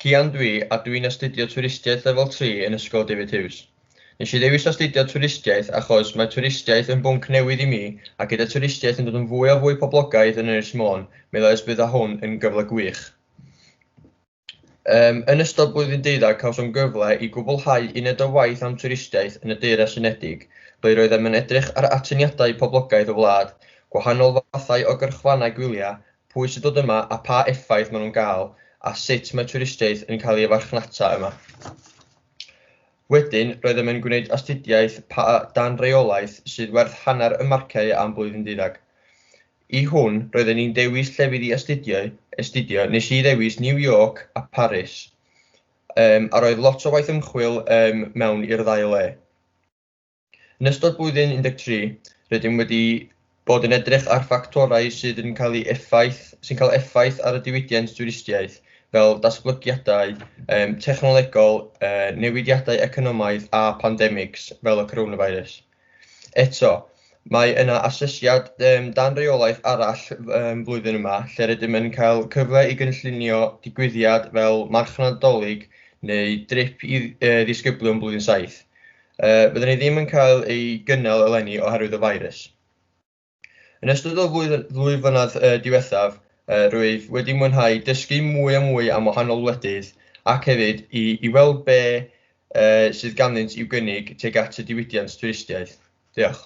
Cian dwi a dwi'n astudio twristiaeth lefel 3 yn Ysgol David Hughes. Nes i ddewis astudio twristiaeth achos mae twristiaeth yn bwnc newydd i mi a gyda twristiaeth yn dod yn fwy a fwy poblogaidd yn Ynys Môn meddai os bydda hwn yn gyfle gwych. Yym, yn ystod blwyddyn deuddag cawsom gyfle i gwblhau uned o waith am twristiaeth yn y Deyrnas Unedig, ble roeddem yn edrych ar atyniadau poblogaidd y wlad, gwahanol fathau o gyrchfannau gwylia, pwy sy'n dod yma a pha effaith maen nhw'n gael, a sut mae twristiaeth yn cael ei farchnata yma. Wedyn, roeddem yn gwneud astudiaeth pa dan reolaeth sydd werth hanner y marciau am blwyddyn deuddag. I hwn, roedden i'n dewis llefydd i astudio, astudio, nes i ddewis New York a Paris, um, a roedd lot o waith ymchwil um, mewn i'r ddau le. Yn ystod blwyddyn 13, rydym wedi bod yn edrych ar ffactorau sydd yn cael ei effaith, sy'n cael effaith ar y diwydiant dwristiaeth, fel datblygiadau um, technolegol, uh, newidiadau economaidd a pandemics fel y coronavirus. Eto, mae yna asesiad yym dan reolaeth arall yym flwyddyn yma lle rydym yn cael cyfle i gynllunio digwyddiad fel marchnad Dolig neu drip i yy ddisgyblion blwyddyn saith. Yy fydden ni ddim yn cael ei gynnal eleni oherwydd y feirws. Yn ystod y ddwy flynedd diwethaf, rwyf wedi mwynhau dysgu mwy a mwy am wahanol wledydd ac hefyd i weld be sydd ganddynt i'w gynnig tuag at y diwydiant twristiaeth. Diolch.